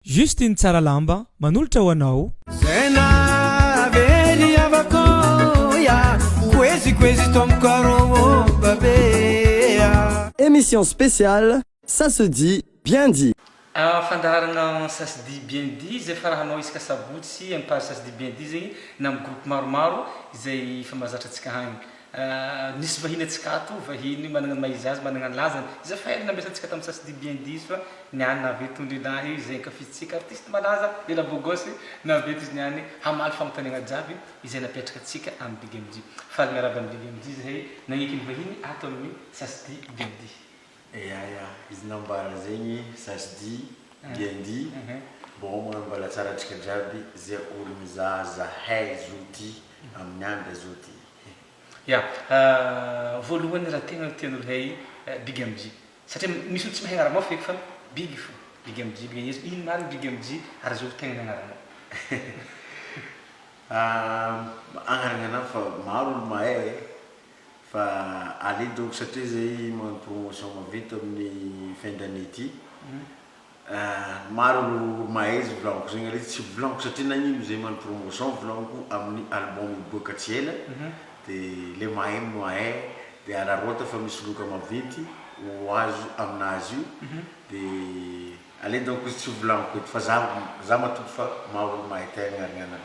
Juste iny tsara lamba manolotra ho anao. Zay nahavery havako ya Kwezi kwezi ton corps oh babea. Emission spéciale ça se dit bien dit. Ahh fandaharana ça se dit bien dit izay fara hanao isaka sabotsy, impar ça se dit bien dit zegny na am groupe maromaro izay efa mahazatra antsika hagny. Ahh misy vahiny atsika ato, vahiny managna ny maha izy azy, managna ny lazany, iza fa ela nambesantsika tamin'ny sasidi bien diso fa niany nahavy itony lehilahy izay ankafizintsika artiste malaza lela beau gosse nahavy eto izy niany hamaly fanontaniagna jiaby izay napetraka antsika amin'ny big MJ faly miarahaba an'i big MJ zahay nagneky ny vahiny ato amin'ny sasidi bien diso. Eya eya izy nambara zegny za sy di bien dit bon magnano mbalatsara antsika jiaby ze olo mizaha zahay zo ty amin'ny andra zo ty eh. Ya voalohany raha tegna no tian'olo hay big MJ satria misy olo tsy mahay agnaramao feky fa big fô big MJ big MJ ino marigny big MJ ary azovy tegna ny agnaranao. Agnarana anah fa maro olo mahay eh. Fa allez donc satria izay magnano promotion maventy amin'ny fin d'année ity ah, maro ireo mahay izay volagniko izay ngah tsy volagniko satria nagnino izay magnano promotion volagniko amin'ny album hiboaka tsy ela dia ilay mahay no mahay dia araraota fa misy loka maventy ho azo amin'azy io dia Aleo donc izy tsy ho volaniko eto fa za za matoky fa maha olo mahay tegna arianana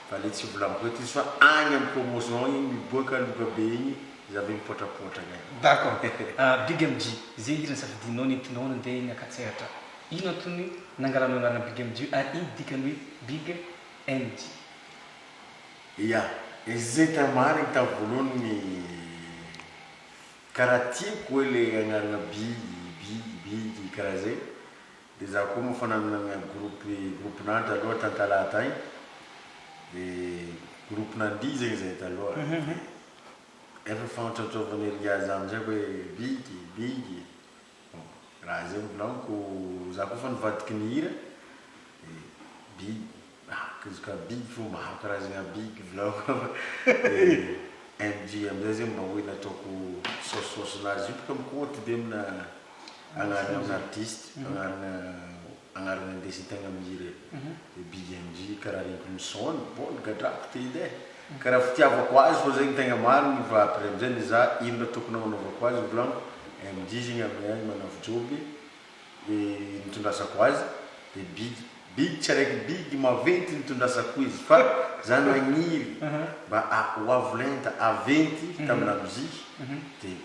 fa aleo tsy ho volaniko eto izy fa agny am promotion igny miboaka loka be igny za ve mipotrapotra agny. D'accord. Ah Big MJ, ze hira nisafidianao nentinao nandeha eny Ankatsehatra. Ino antony nangalanao anarana Big MJ ary ino dikany hoe Big MJ? Ya, izy zay tena marigny tamin'ny voalohany ny. Ka raha tiako hoe le anarana bidy bidy bidy karaha zay de za koa moa fa nanana groupe groupe nandra aloha tantalaha tagny de groupe nandihy zegny zay taloha de efa fantratraovan'i Riaza amizay hoe bidy bidy. Raha izay no bilaogiko, za koa efa nivadiky ny hira dia big ah kizo ka big fô maro karazagna big bilaogiko dia MJ amin'izay zegny mba hoe nataoko saosisaosinazy io bôka mikoty be amina agnarana artiste, agnarana. Agnarana indesy ntaigna mihira e. Ry big MJ karaha reniko ny son ny bol gadrako te edy eh. Karaha fitiavako azy fô zegny tegna marigny fa après amizay ny za ino raha tokony agnanaovako azy volagno MJ zegny amy ahy manavy joby e nitondrasako azy de big big tsy araiky big maventy nitondrasako izy fa za nagniry mba a hoavy lenta aventy tamina mozika de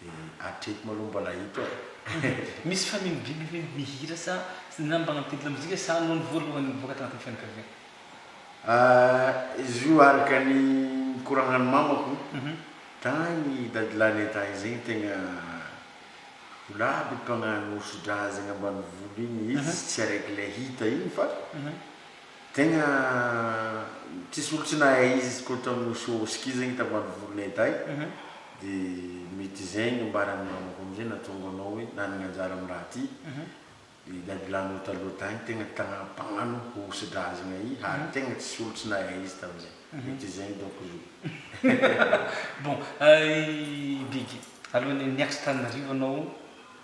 Dia hatreto malou mbola hita e. Misy fanindriana ve ny hira sa ny nambaran'ny titre mozika sa noho ny voalohany nivoaka tanatin'ny fianakaviana? Ahh izy io araka ny nikoragnan'ny mamako tagny dadilahy nentagny zegny tegna ho labo mpagnano hosodra zegny ambanivolo igny izy tsy araiky le hita igny fa Tegna tsisy olo tsy nahay izy izy ko tamy show Oski zegny tamy andro volonay tay de mety zegny ambarany namako amizay natonga anao hoe nanagna anjara amy raha ty i Dagla nao taloha tagny tegna tagna mpagnano hosidrazagna i Hary tegna tsisy olo tsy nahay izy tamizay mety zegny donc izy. Bon, i Big, alohan'ny niakatra Tananarivo anao,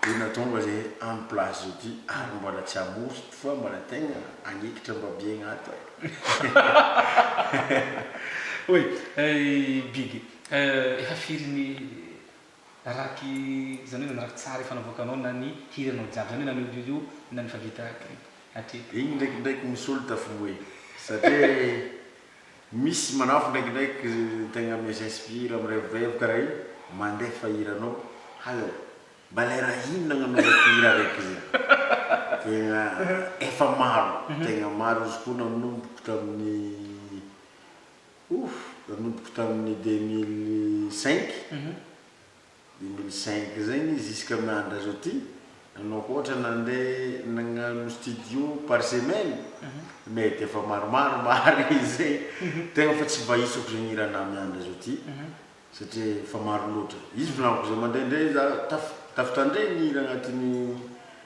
Dia natonga le am place zao ty ary mbola tsy amory fa mbola tegna agnekitra mba biegna ato eh. Oy big efa firy ny raki zany hoe nanaraka tsara efa navoakanao na ny hiranao jiaby zany hoe na ny audio io na ny efa vita clip hatreto. Igny ndraikindraiky misolo tafiboe satria Misy manafo ndraikindraiky tegna mes inspire mirevirevo kara io mandefa hiranao hay ô mba le raha ino nagnanaovako hira raiky zay tegna efa maro tegna maro izy koa nanomboko tamin'ny ouff nanomboko tamin'ny deux mille cinq. Dia mbola zinc izay ny izy jusqu'à miandry azy aty, nanao hoatra nandeha nagnano studio par semaine, mety efa maromaro marigny izay, tegna fa tsy bahisako zegny hira anah miandry azy aty satria efa maro loatra, izy volagniko zay mandeha ndray za taf tafitandregny hira agnatin'ny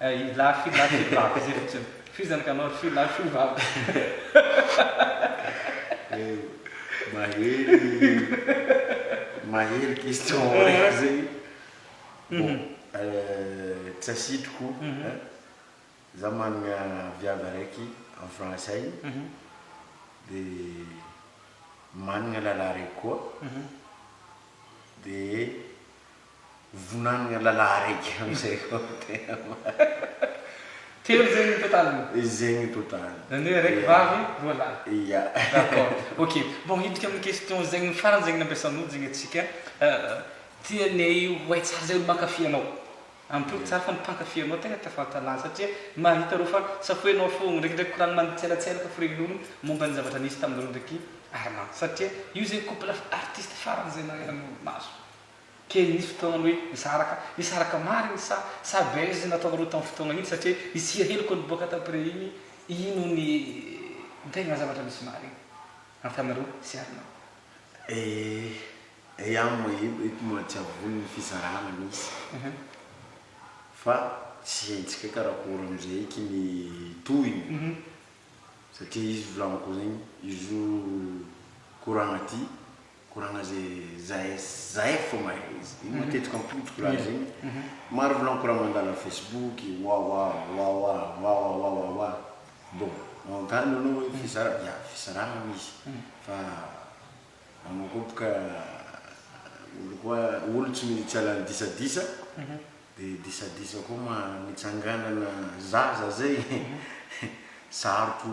Ry lahy fy lahy fy vavy izay fotsiny. F'iza ny kanao ry fy lahy fy vavy. Eo mahery mahery question raiky zay bon tsy asitriko hein za managna viavy araiky en France agny de managna lalahy raiky koa de. Vonanagna lala araiky amizay koa ny tena marina. Telo zegny ny totaliny? Zegny ny totaliny. Zany hoe araiky vavy, roa lahy. Ya. D'accord. Ok. Bon, hidika amin'ny question zegny farany zegny nampiasan'olo zegny atsika. Tianay ho hay tsara zay olo mankafy anao. Ampiako tsara fa ny mpankafy anao tegna tafantalana satria mahita reo fa safoinao fôgna, ndrekindreky koragny manitselantselaka ny firen'olo momba ny zavatra nisy taminareo ndreky Armand satria io zegny couple artiste farany zay nahaizan'olo maso. Kely nisy fotoana hoe nisaraka, nisaraka marina sa sa buzz nataonareo tamin'ny fotoana iny satria isia hely ko niboaka t'après iny, ino ny tegna zavatra misy marigny antanareo sy Arnaud? Eh eh an moa io eto moa tsy avoiny ny fizarana misy fa tsy hentsika karakory amizay eky ny tohiny satria izy volagniko zegny izy io koragna ty Koragna ze zahay zahay fô mahay izy iny matetika ampotoko raha izy iny maro volagny koragna mandalo am facebook wawa wawa wawa wawa wa bon manontany anao hoe fizaragna ya fizaragna aloha izy fa anao koa boka olo koa olo tsy mety hiala am disadisa de disadisa koa ma mitsanganana zaza zay sarotro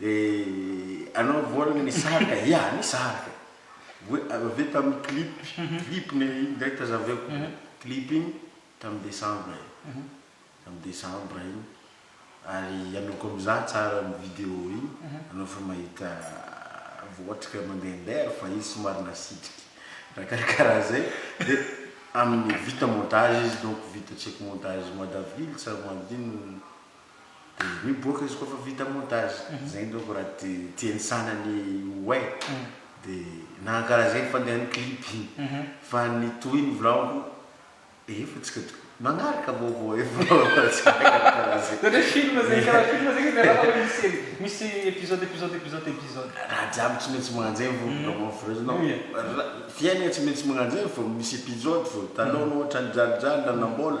Eh anao vol ny nisaraka ya nisaraka oe avy eo tamin'ny clip clip ny iny ndray tazaveko clip iny tamin'ny decembre e tamin'ny decembre iny ary anao koa mizaha tsara ny video iny anao efa mahita votrika mandehandeha ary fa izy somary nasitriky raha karakaraha zay de amin'ny vita montage izy donc vita check montage madavily sa maninona Dia miboaka izy koa fa vita montage, zay indreo ko raha ti tiany sanany ho hay dia nahankala zay ny fandehany clip iny fa ny tohiny volagniko efa tsika to magnaraka vaovao efa Ohatry film zay karaha film zay izy raha hoe misy misy episode episode episode episode. Raha jiaby tsy maintsy magnano zay vao vita monfreuse nao ra fiainana tsy maintsy magnano zay vao misy episode vao hitanao anao ohatran'ny jalijaly nanambola.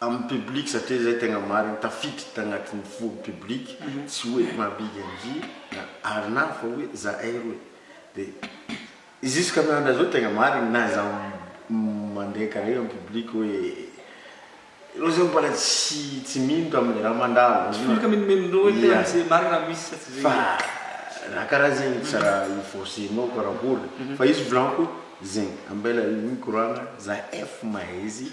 Amin'ny public satria izay tegna marigny tafiditra tagnatin'ny fo public tsy hoe mahabigy an'zy na Arnav fa hoe zahay roe de jusqu'à miandra zao tegna marigny na za mandeha kare amin'ny public hoe reo zao mbola tsy tsy mino tamin'ny raha mandalo Tsy mino ka minomino hoe tegna tsy marigny raha misy sa tsy zegny fa raha karaha zegny tsy raha ho forcenao par rapport fa izy volanko zegny ambela micro agna za ef mahay izy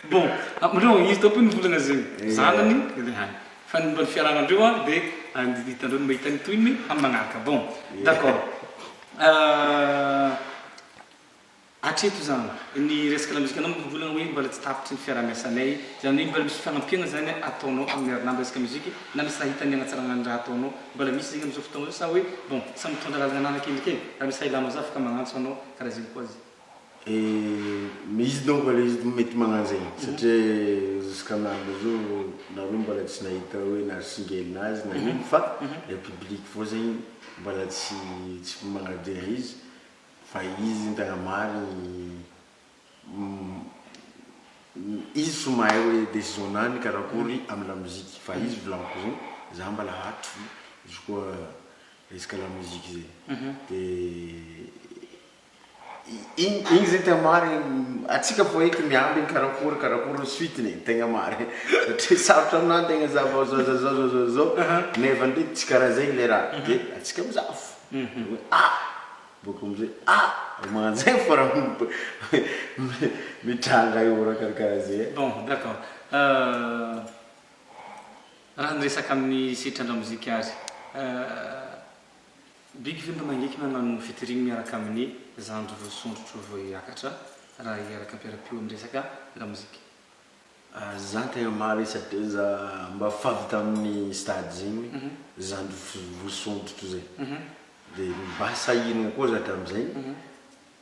Bon, amindreo an, izy daholo ny volana zay zanany le hany, fa ny momba ny fiarahana andreo an de ny hitandreo no mahita ny tohiny am magnaraka, bon d'accord hatreto zany ny resaka lamozikanao moa volana hoe mbola tsy tapitry ny fiarahamiasanay, zany hoe mbola misy fagnampiana zany ataonao aminy ry namana resaka musique na misy raha hitany hanatsarana ny raha ataonao, mbola misy zegny amizao fotoagna zao sa hoe bon samy mitondra lalagna ananany kelikely, raha misy raha ilanao za afaka magnantso anao, karaha zegny koa zany. Misy donc le izy mety magnano zegny satria jusqu'à aminy le jour nareo mbola tsy nahita hoe narsingenina azy na ino fa le public fô zegny mbola tsy tsy magnadeha izy fa izy tegna marigny izy fô mahay hoe décision-nany karakôry amy la musique fa izy volagniko zegny za mbola hatry izy koa resaka la musique zegny de. Igny zay tegna marigny, antsika fô eto miamby ny karakory karakory ny suite-ny e, tegna marigny satria sarotra aminah antegna za vao zao za zao za zao za zao nefa ndreky tsy karaha zegny le raha de antsika mizaha fo hoe a! bôka amizay a! de magnano zegny fô raha mitranga eo raha karakaraha zay e. Bon, d'accord, raha niresaka amin'ny sehatry ny lamozika azy, Biby fiompy mangiky nanao ny fitoriany miaraka amin'ny zandry roa sondrotro vao hiakatra raha hiaraka mpiara-pio amin'ny resaka lamozika. Za tegna maharesa be za mba fady tamin'ny stade zegny zandry roa sondrotro zay de mba sahirana koa za tamin'izay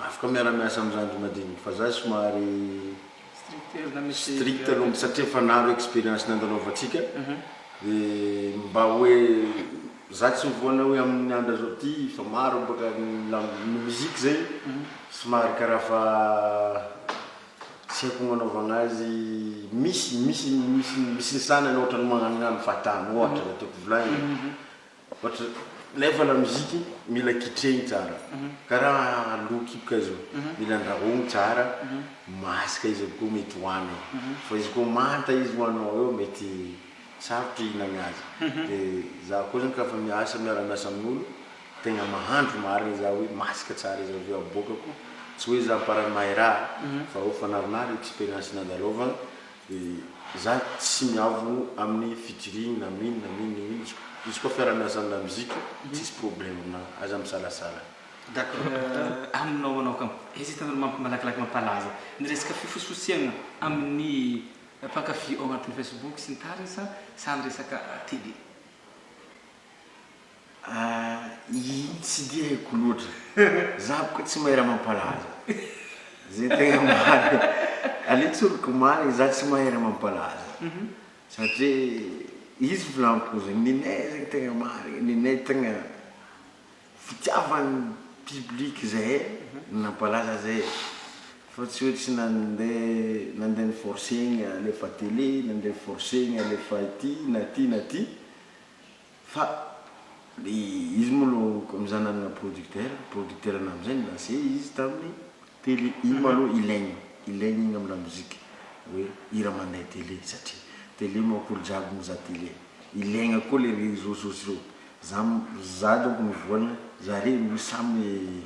Afaka miara miasa am zandry madiniky fa za somary strict aloha mitsy satria efa naro experience nandalovantsika de mba hoe za tsy mivoana hoe am ny andra zao ty fa maro baka ny musique zay somary karaha fa tsy haiko ny anaovana azy misy misy misy ny sanany ohatrany magnanognano fatany ohatra zay tiako volagnina. Ohatra nefa la musique mila kitrehigny tsara karaha loha kiboka zao mila andrahogny tsara masaka izy avokeo mety hohany fa izy koa manta izy hohaninao eo mety sarotro hihinagna azy de za koa zany ka fa miasa miara miasa amin'olo tegna mahandro marigny za hoe masaka tsara izy aveo aboakako tsy hoe za amparany mahay raha fa eo fanarinary experience nandalovanao Dia za tsy miavogno aminy featuring na mino na mino io izy izy koa fiaramiasa amina musique tsisy problème aminahy aza misalasala. D'accord aminao manao ka hesitant malakilaky mampalaza ny resaka fifosifosehana amin'ny mpankafy ao anatin'ny facebook sy ny tariny sa samy resaka tele? Tsy dia haiko loatra, za bôka tsy mahay raha mampalaza, zay tegna marigny, aleo tsoriko marigny za tsy mahay raha mampalaza satria izy volagniko zegny ninay zegny tegna marigny, ninay tegna fitiavan'ny public zahay no nampalaza zahay fa tsy hoe tsy nande nande niforcegna alefa tele, nande niforcegna alefa ity na ty na ty. Fa le izy moa lo comme za nanana producteur, producteur na amzay nilancé izy taminy télé, iny ma lo ilaigny, ilaigny igny am lamoziky oe hira mandeha télé satria télé manko olo jiaby mizaha télé, ilaigna koa le réseau sociaux, za za donc ny voalohany zare roy samy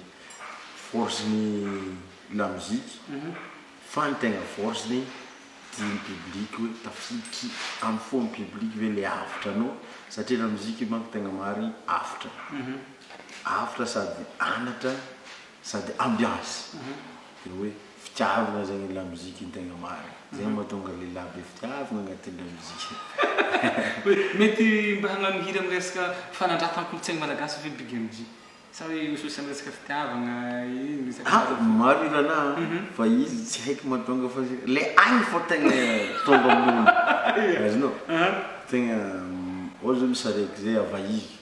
force ny lamoziky Fa ny tegna force ny dia ny public hoe tafiditry am fo ny public ve le avotra anao satria la musique io manko tegna marigny avotra avotra sady anatra sady ambiance de hoe fitiavagna zegny ny la musique ny tegna marigny zegny mahatonga lehilahy be fitiavagna agnatin la musique. Mety mba hagnano hira miresaka fanandratan-kolontsaigny malagasy ve Big MJ? Sa hoe io social resaka fitiavagna io resaka Ah fahazavana foana. maro i Rana a, fa izy tsy haiko mahatonga fa le ainy fô tegna tonga amin'olo, azonao? Tegna ohatra zao misy saraiky zay Avaizo,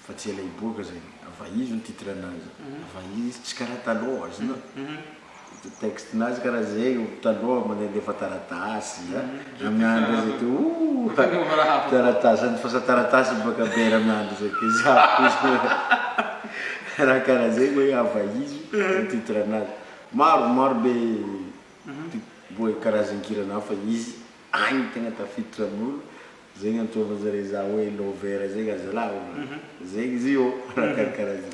fa tsy ela hiboaka zegny, Avaizo ny titre-nazy, Avaizo izy tsy karaha talôha, azonao? Ity texte nazy kara ze io taloha manalefa taratasy a ramiandry zay ty ooh taratasy any fasa taratasy baka be ramiandry zay ty za raha kara zay oe hava izy zay titre nazy maro maro be boe karazan-kirana hafa izy agny tegna tafiditra amin'olo zay gn'antsovan zare za oe lover zegny azalahy zegny izy io raha karakara zay.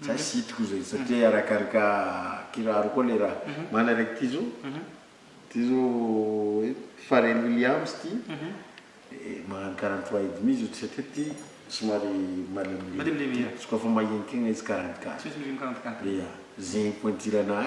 Za tsy hitako izay satria arakaraka kiraro koa le raha. Mana raiky ty zo ty zo Pharrel Williams ty magnano quarante trois et demi zo satria ty somary malemilemy so ka fa mahenika igny izy quarante quatre ya zegny pointure nahy.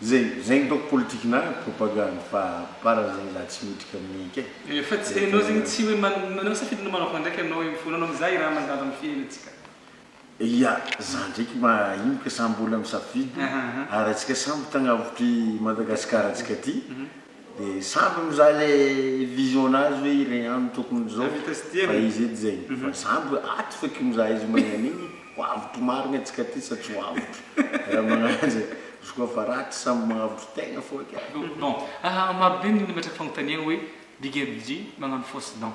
Zay zay ny ataoko politikinà propagande fa para zay za tsy mitrika amin'ny ika e. Efa tsy hainao zegny tsy hoe manao safidy na manao voandraiky anao eo fona anao mizaha i raha mazava ny fiainantsika. Ia za ndraiky mba ino ka sa mbola misafidy ary atsika samby tagnavotr'i Madagasikara tsika ty? De samby mizaha le vision nazy hoe ireny ihany no tokony izao fa izy edy zay fa samby ato feky mizaha izy mahay an'igny ho avotro marigny atsika aty sa tsy ho avotro raha magnaraha zay izy koa fa ratsy samby magnavotro tegna fô eky ah. Bon, marobe ny olo mipetraka fagnontaniagna hoe big MJ magnano fausse dent.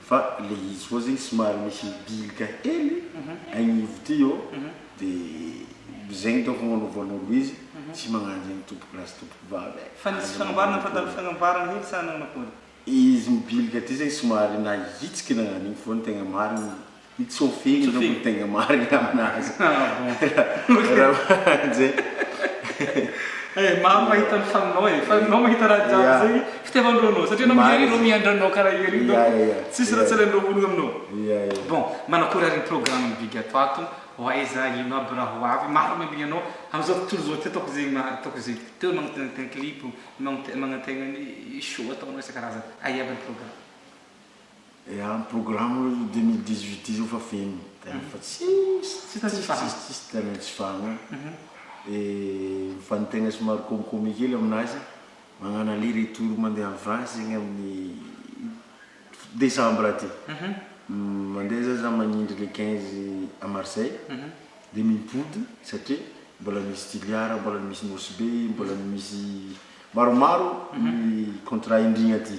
Fa le izy koa zegny somary misy mibilika hely agnivo ty ô de zegny dônko no agnanovan'olo izy tsy magnano zegny tompoko lahy sy tompoko vavy e! Fa nisy fanambarana fa nandalo fagnambarana hely sa nagnano akôry? Izy mibilika ty zegny somary nahitsiky nagnano igny fô ny tegna marigny I Tsofi iny no mitenge marina aminazy. Ah bon. Ramanjay. Eh, maro mahita ny faninao eh, fa anao mahita raha jiaby Yeah. zegny fitiavan-dRonao satria anao Marina. mihery reo miandranao karaha ery Yeah, donc yeah, yeah. tsisy raha tsy Yeah. alain-dreo vonoy aminao. Ia ia. Bon, manakory ary ny programme ny big ato ato, ho aiza, ino aby raha ho avy, maro ny ambiny anao amzao tontolo zao ty ataoko zegny ma- ataoko zegny, teo magnatena clip, magnate- magnantegna ny show ataonao isan-karazany, aia aby ny programme. Eaam programme aloha io deux mille dix huit io fa feno tena fa tsisy Tsy tena tsy fahana. tsisy tena tsy fahana de mifanintena somary komikomy kely aminazy magnano aller retour mandeha any France zegny amin'ny decembre aty mandeha zany za magnindry le quinze à Marseille de mipody satria mbola misy Toliara mbola misy Nosy Be mbola misy maromaro ny contrat indrigna aty.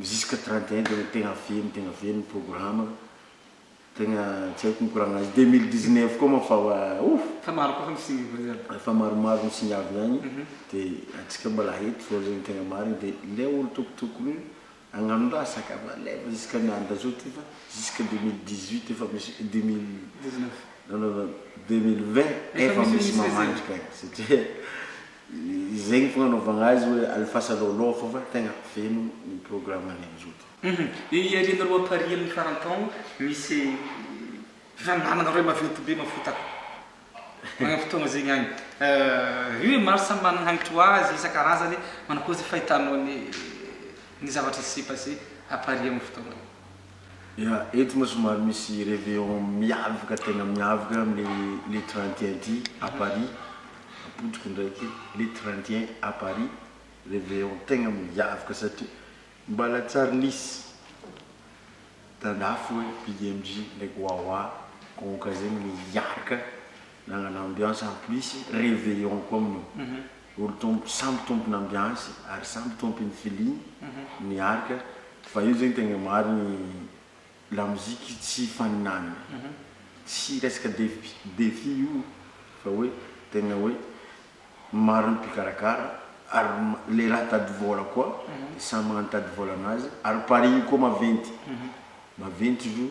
jusqu'à trente et un dia tegna velogno tegna velogno programme tegna tsy haiko mikoragna azy deux mille dix neuf koa moa fa wa ouh Fa maro koa ny signes voa zany. Efa maromaro ny signes avy agny de antsika mbola eto zao zegny tegna marigny de le olo tokotokony agnano raha sac à balève jusqu'à ny andro zao ty fa jusqu'à deux mille dix huit efa misy deux mille Dix neuf. non non non deux mille vingt Efa efa misy misy le zay. mamandrika satria Izay no fagnanaovagna azy hoe alefasanao aloha fô fa tegna feno ny programme ny amin'izao ty. Io iarianareo appareil amin'ny faran-taogno misy fifaninanana roe maventy be mafotaka magnam fotoagna zegny agny io e maro samy managna hagnitry ho azy isan-karazany manakôry ze fahitanao ny ny zavatra se passé appareil amin'ny fotoagna io. Ya, eto moa somary misy reveillon miavaka tena miavaka amin'ny le trente et un ty à Paris, apotoky ndraiky le trente et un à Paris, reveillon tegna miavaka satria mbala tsy ary nisy tandafy hoe big MJ ndraiky wawa konka zegny miaraka Nanana ambiance en plus reveillon koa amin io. Olo tompo, samby tompon ambiance ary samby tompin feeling ny arc fa io zegny tegna marigny la musique tsy ifaninanagna. Tsy resaka defi défi io fa hoe tegna hoe maro ny mpikarakara ary le raha tady vôla koa samy magnano tady vôla anazy ary paris io koa maventy maventy izy io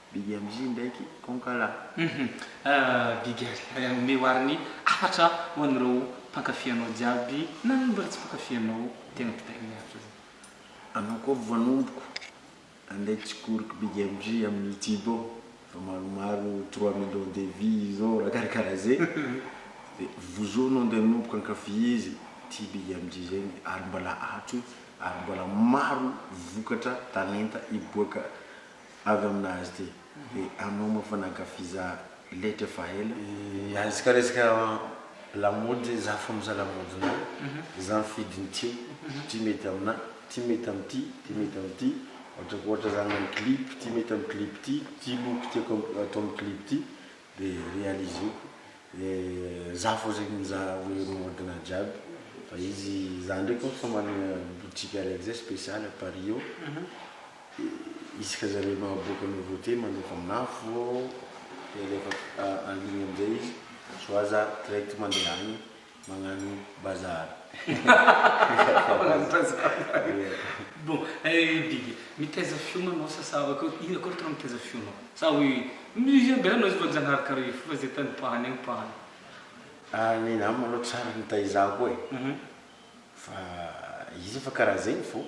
Big MJ ndraiky Konkala. Hum Big omeo ary ny hafatra ho an'ireo mpankafy anao jiaby na ny mbola tsy mpankafy anao tena kitaina ny hafatra zany. Anao koa voanomboko andeha tsikoriky Big MJ amin'ny youtube ao fa maromaro trois millions de vues zao raha karakara zay de vozo anao andeha anomboka ankafy izy ity Big MJ zay ny ary mbola ato ary mbola maro vokatra talenta hiboaka avy amina azy ty e anao moa fa nankafiza letra efa ela e. Aizka resaka lamaody za fa miza lamaody na za mifidy ny tiako ty mety amina ty mety am ty ty mety am ty ohatrako ohatra za agnano clip ty mety am clip ty ty loko tiako ato am clip ty de realizeko de za fô zegny mizaha hoe mihodina jiaby fa izy za ndreky mô fa managna boutique araiky zay special à Paris eo de isaka zare mahaboaka nouveauté mandefa amina fô de alefa en ligne amizay izy soit za direct mande agny Magnano bazary. Magnano bazary. Bon, eh Biby, mitaiza fiomana sa sa akory, ino akory tena mitaiza fiomana? Sa hoe musicien be anao izy fa Janahary karaha io foana zay tany pahany any pahany. Ah, ny namako aloha tsary nitaiza koa e. Fa izy fa karaha zegny fô,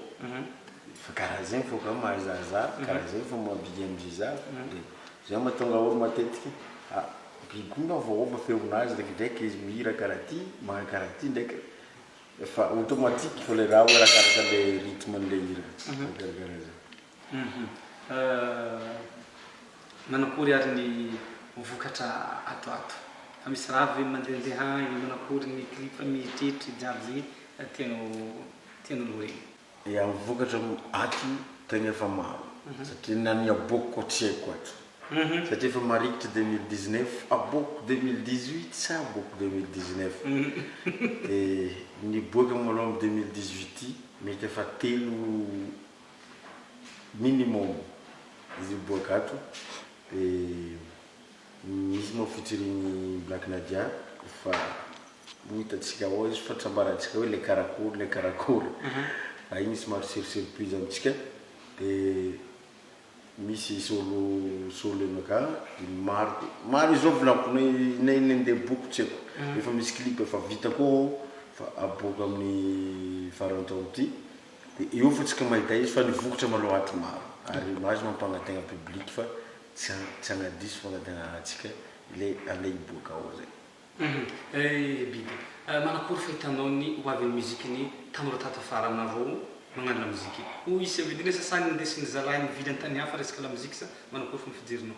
fa karaha zegny fô ka mahazahazah, karaha zegny fô mahabigy am'zay za, de zay mahatonga olo matetiky a biby koa nga voaova feonazy ndraikindraiky izy mihira karaha ty, magnano karaha ty ndraiky, efa automatique fô le raha hoe arakaraka le rythme-n'le hira, karaha zay. Manakory ary ny vokatra ato ato? Fa misy raha avy ve mandehandeha any? Manakory ny clip mieritreritra jiaby zay tianao tianao lorena? Ya, ny vokatra ato tegna efa maro satria na ny aboako koa tsy haiko ato satria efa marikitry deux mille dix neuf, aboako deux mille dix huit sa aboako deux mille dix neuf? Dia niboaka malom deux mille dix huit ty mety efa telo minimum izy boagato de misy moa featuring black nadia fa ho hitantsika ao izy fa tsy ambarantsika hoe le karakory le karakory fa iny somary sur surprise amintsika de misy solo solo enoka de maro maro izao volanko na na iny ndeha boko tsy haiko efa misy clip efa vita koa ao fa aboaka amin'ny farantaona ity Dia eo fa tsy ka mahita izy fa nivokotra manao aty maro ary image mampangategna public fa tsy tsy agnadiso fangategnana antsika ilay andeha hiboaka ao zay. Ry Biby, manakory fahitanao ny ho avin'ny musique ny tanora tato afara aminareo magnano la musique? Hoy i Sevelina sasagny nindesy ny zalahy nivily an-tany hafa resaka la musique sa manakory fomba fijerinao?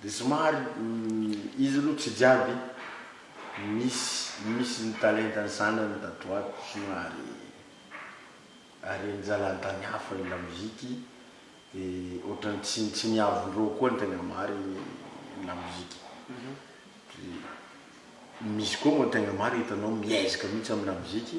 Dia somary izy aloha tsy jiaby misy misy ny talentan'ny zanany tato ho ato somary haren-jalantany hafa ny lamoziky dia ohatran'ny tsy tsy niavon-dreo koa ny tegna marigny ny lamoziky dia misy koa moa tegna marigny hitanao miezaka mihitsy amin'ny lamoziky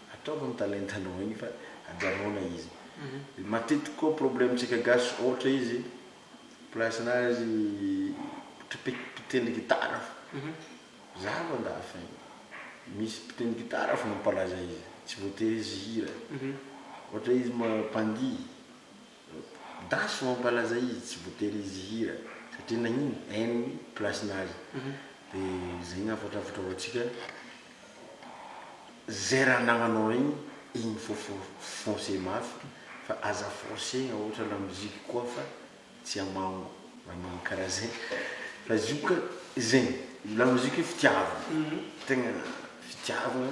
Ataovy ny talentanao iny fa ajanona izy. Matetiky koa problème tsika gasy ohatra izy place na izy mpitendry gitara fo za aloha andafy any misy mpitendry gitara fo mampalaza izy tsy voatery izy hihira ohatra izy mpandihy Daso mampalaza izy tsy voatery izy hihira satria nagnino en ny place nazy de zay ny hafatra hafatra ho antsika zay raha anagnanao regny igny fô fô foncer mafy fa aza forcegna ohatra la musique koa fa tsy amango raha magnano karaha zay fa izy io ka zegny la musique io fitiavagna tegna fitiavagna.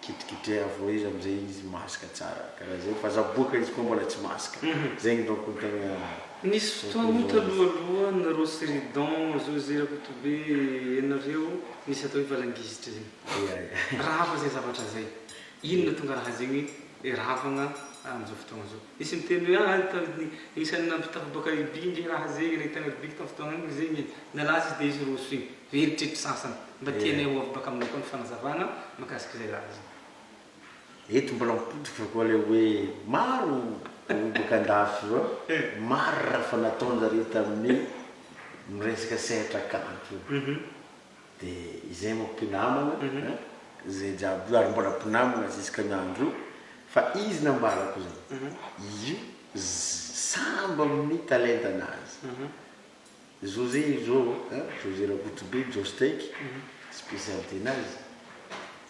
Kitrikitreha avao izy amzay izy mask tsara karaha zay fa za boka izy koa mbola tsy mask zegny donc ny tegna Nisy fotoagna taloha aloha ny Rossy Ridon, José Rakotobe ianareo nisy atao hoe valangizitra zegny. Ya ya. Raha hafa zay zavatra zay. Inona tonga raha zegny hoe ravagna amzao fotoagna zao. Nisy niteny hoe ah ry tany ny isany nampitaha baka Libye nge raha zegny re tany Libye tam fotoagna igny zegny nalaza izy de izy roso igny ve ry tretry sasany mba tianay ho avy baka aminay koa ny fanazavagna makasika izay raha izay. Eto mbola mipotroka koa le hoe maro olo baka andafy fa maro raha efa nataonjareo tamin'ny miresaka sehatra kanto. Dia izay moa mpinamana an, izay jiaby io ary mbola mpinamana jusque ny andro io fa izy nambarako izany, io sambo amin'ny talentanazy, José io izao an, José Rakotobe, Jostaiky, spécialité-nazy.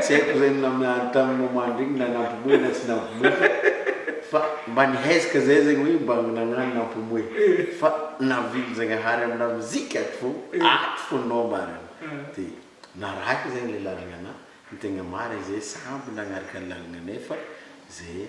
Tsy haiko zay namiany tamin'ny moment regny na nampimoehy na tsy nampimoehy fa fa mba nihezaka zay zegny hoe mba nagnano nampimoehy fa navily Zagnahary amy lamozika ato fô ato fô nao marigny de narahiko zegny le lalagna anah ny tegna marigny zay samby nagnaraka ny lalagna nefa zay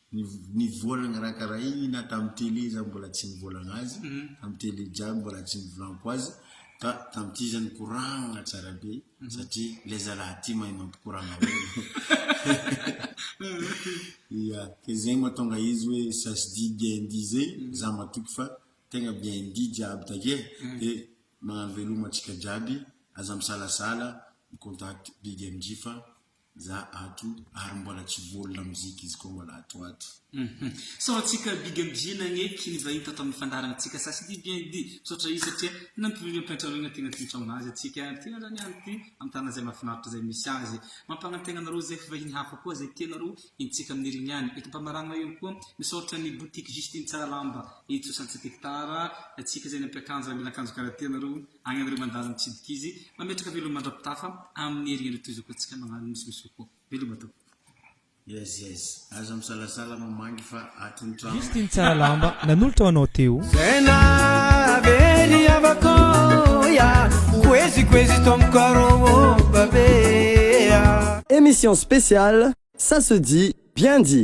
Ny vola nakarakaraina tamin'ny télé izaho mbola tsy nivolagna azy, tamin'ny télé jiaby mbola tsy nivolanko azy, ka tamin'ity izy nikoragna tsara be satria ilay zalahy ity mahay mampikoragna olona. Ia, ka izay mahatonga izy hoe ça se dit bien dit zay, izaho matoky fa tegna bien dit jiaby takeo dia magnano veloma antsika jiaby, aza misalasala mi-contact Big MJ fa. Za ato ary mbola tsy voa lamozika izy koa mbola ato ato. Hum sao antsika big and J nagneky ny vahiny tato amin'ny fandaharana tsika sasy ity bien dit misaotra izy satria nampivily ampiantranoina tena tsotra honazy antsika ty ary ny any ty amin'ny tanana izay mahafinaritra izay misy azy mampagna tegna anareo izay fa vahiny hafa koa izay tianareo hintsika amin'ny herigny ihany eto ampamaragna ihany koa misaotra ny boutique Justine tsara lamba hitsosa antsika tara antsika izay nampiakanjo ary mila akanjo karaha ty anareo agny anareo mandaza mitsidika izy Mametraka veloma mandra-pitafa amin'ny hery endry toy izao ka tsika mahalana ny solution koa. Veloma tompoko. Yes yes aza misalasala mamangy fa ato ny trano. Misy teny tsara lamba nanolotra ho anao teo. Tena very havako ya Kwezi kwezi ton caro babe ya. Emission spéciale, ça se dit, bien dit.